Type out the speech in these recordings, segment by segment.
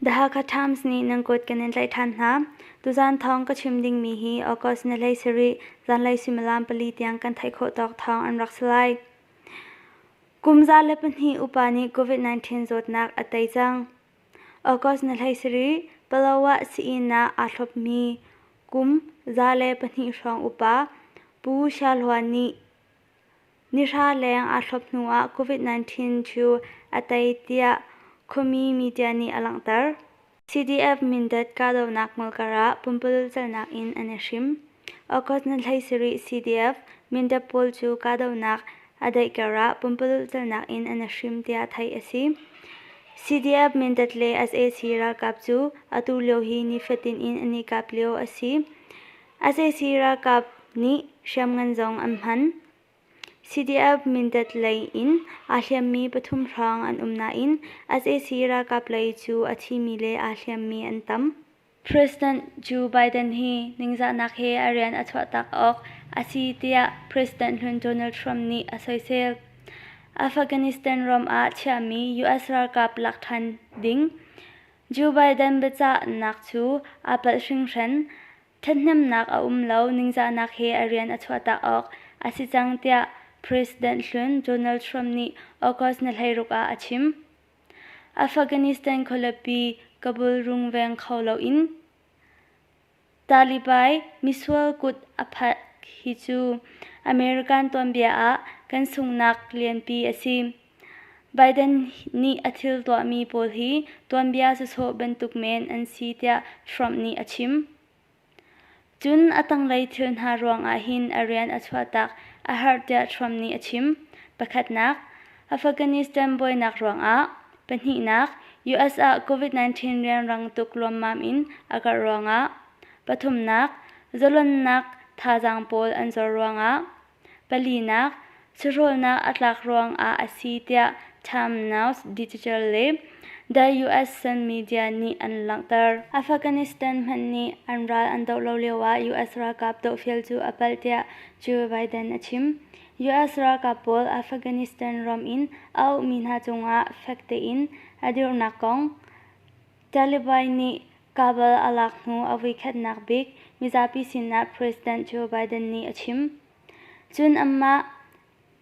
The Hakha Times nih nan kut kan in tlaih ṭhan hna. Tuzaan thawng ka chim dingmi hi August ni hlei sarih zanlei suimilam pali tiang kan theih khawh tawk thawng an rak si lai. Kum za le pahnih upa nih COVID-19 zawtnak a tei cang. August ni hlei sarih, Pahlawa Sii-inn ah aa thlopmi kum za le pahnih hrawng upa Pu Sha Hlua nih nihra leng aa thlop hnuah COVID-19 cu a tei tiah khuami media nih a langhter. CDF Mindat kahdohnak hmul karah pumpululh celnak in an i hrim. Okhot na hlei si rih CDF, Mindat pawl cu kahdohnak a daih karah pumpalulh calnak in an i hrim tiah theih a si. CDF Mindat le sac ralkap cu atu lio hi nifatin in an i kap lio a si. sac ralkap nih hriamngan zong an hman. CDF Mindat lei in aa hliammi pathum hrawng an um nain sac ralkap lei cu a thimi le aa hliammi an tam. President Joe Biden hi ningzahnak he a rian a chuahtak awk a si tiah President hlun Donald Trump nih a soisel. Afghanistan ram ah chiahmi US ralkap lak ṭhan ding Joe Biden biacahnak cu aa palh hringhran. Ṭhathnemnak a um lo ningzahnak he a rian a chuahtak awk a si cang tiah President hlun Donald Trump nih August ni hleiruk ah a chim. Afghanistan khualipi Kabul rung veng kho loin Taliban misual kut a phanh hi cu American tuanbia ah kan sunghnak lianpi a si. Biden nih a thil tuahmi pawl hi tuanbia sawsawh bantuk men an si tiah Trump nih a chim. Cun a tanglei thil hna ruangah hin a rian a chuahtak a harh tiah Trump nih a chim. Pakhatnak, Afghanistan buainak ruangah. Pahnihnak, US ah COVID-19 rianrang tuk luammam in a karh ruangah. Pathumnak, zalonnak thazaang pawl an zor ruangah. palinak sahrolnak a tlak ruangah a si tiah Time Now Digital le The US Sun Media nih an langhter. Afghanistan hmanh nih an ral an doh lo lioah US ralkap dohfeel cu a palh tiah Joe Biden a chim. US ralkap pawl Afghanistan ram in a ukmi hna cungah fek tein a dirnak kong Taliban nih Kabul a lak hnu a vuikhatnak bik mizapi sinah President Joe Biden nih a chim. Cun anmah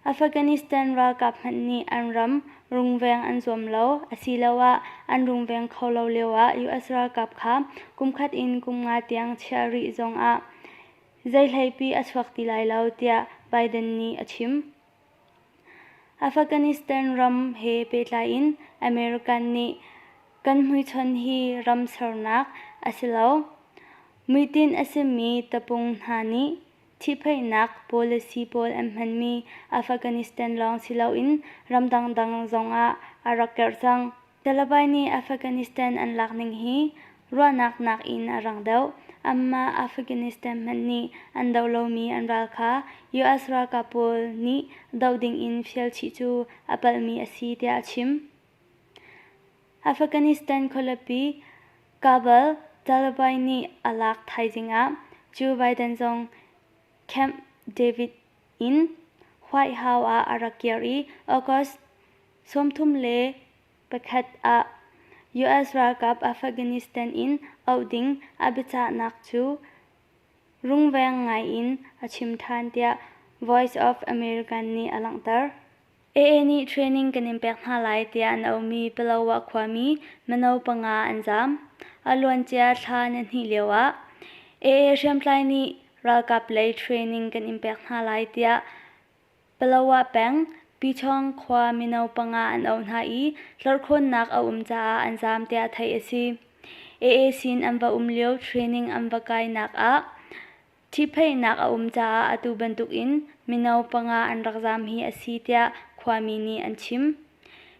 Afghanistan ralkap hmanh nih an ram rungveng an zuam lo asiloah an rungveng kho lo lioah US ralkap kha kumkhat in kum nga tiang chiah rih zongah zei hleipi a chuak ti lai lo tiah Biden nih a chim. Afghanistan ram he pehtlai in American nih kan hmuichon hi ram sernak a si lo. Muitin a simi tapung hna nih ṭhihphaihnak policy pawl an hmanmi Afghanistan lawng si loin ram dangdang zongah a rak kerh cang. Taliban nih Afghanistan an lak ning hi ruahnak nak in a rang deuh. Amah Afghanistan hmanh nih an doh lomi an ral kha US ralkap pawl nih doh ding in fial chih cu a palhmi a si tiah a chim. Afghanistan khualipi Kabul Taliban nih a lak thaizing ah Joe Biden zong Camp David in White House ah a rak kir i August sawmthum le pakhat ah US ralkap Afghanistan in auh ding a biacahnak cu rungveng ngaiin a chim ṭhan tiah Voice of America nih a langhter. AA nih training kan in pek hna lai tiah an aumi Palawah khuami mino panga an zaam. A luancia thla na hnih lioah AA hriamtlai nih ralkap lei training kan in pek hna lai tiah Palawa peng Pyiṭhawng khua mino panga an auh hna i hlorkhawnnak a um caah an zaam tiah theih a si. AACin an va um lio training an va kainak ah ṭhihphaihnak a um caah atu bantukin mino panga an rak zaam hi a si tiah khuami nih an chim.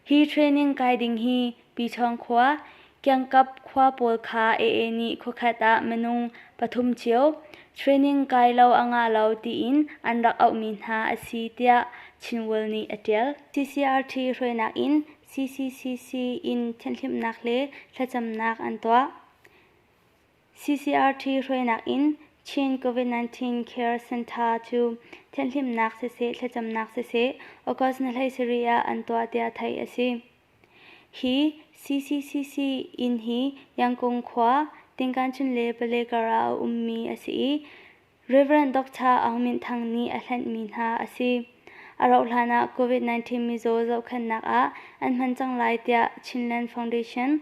Hi training kai ding hi Pichawng khua, Kiangkap khua pawl kha AA nih khuakhat ah minung pathum cio training kai lo a ngah lo tiin an rak auhmi hna a si tiah Chinworld nih a ṭial. CCRT hruainak in CCCC in thianhhlimhnak le thlacamnak an tuah. CCRT hruainak in Chin COVID-19 Care Centre cu thianhlimnak siseh thlacamnak siseh August ni hlei sarih ah an tuah tiah theih a si. Hi CCCC inn hi Yangkung khua Tinkanchun le Pale kar ah a ummi a si i Rev. Dr. Aung Min Thang nih a hlenhmi hna a si. A rauhhlan ah COVID-19 mizaw zohkhenhnak ah an hman cang lai tiah Chinland Foundation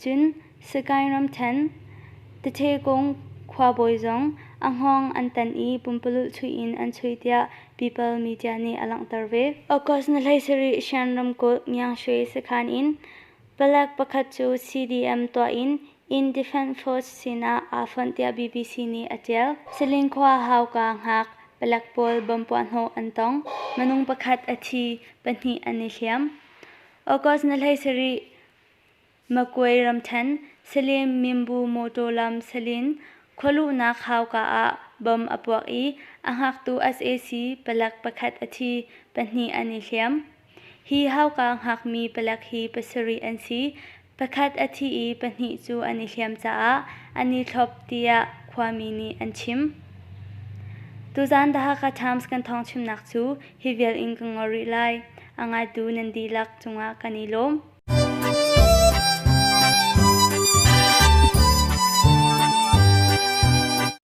Cun Sagaing ramṭhen Tathe Kung khuabawi zong a hngawng an tan i pumpalulh chuih in an chuih tiah People media nih a langhter ve. August ni hleisarih Shan ramkulh Myangshui sakhan in palek pakhat cu CDM tuah in Inn Defence Force sinah aa fonh tiah BBC nih a ṭial. Saling khua hauka ngak palek pawl bom puahhnawh an tong, minung pakhat a thi, pahnih an i hliam. August ni hleisarih Makwe ramṭhen Salem Minbu mawṭaw lam salin khualuhnak hauka ah bom a puak i a hngaktu sac palak pakhat a thi, pahnih an i hliam. Hi hauka hngakmi palak hi pasarih an si, pakhat a thi i pahnih cu an i hliam caah an i thlop tiah khuami nih an chim. Tuzaan the Hakha Times kan thawngchimnak cu Hi vial in ka ngor rih lai. A ngaitu nan dihlak cungah kan i lawm.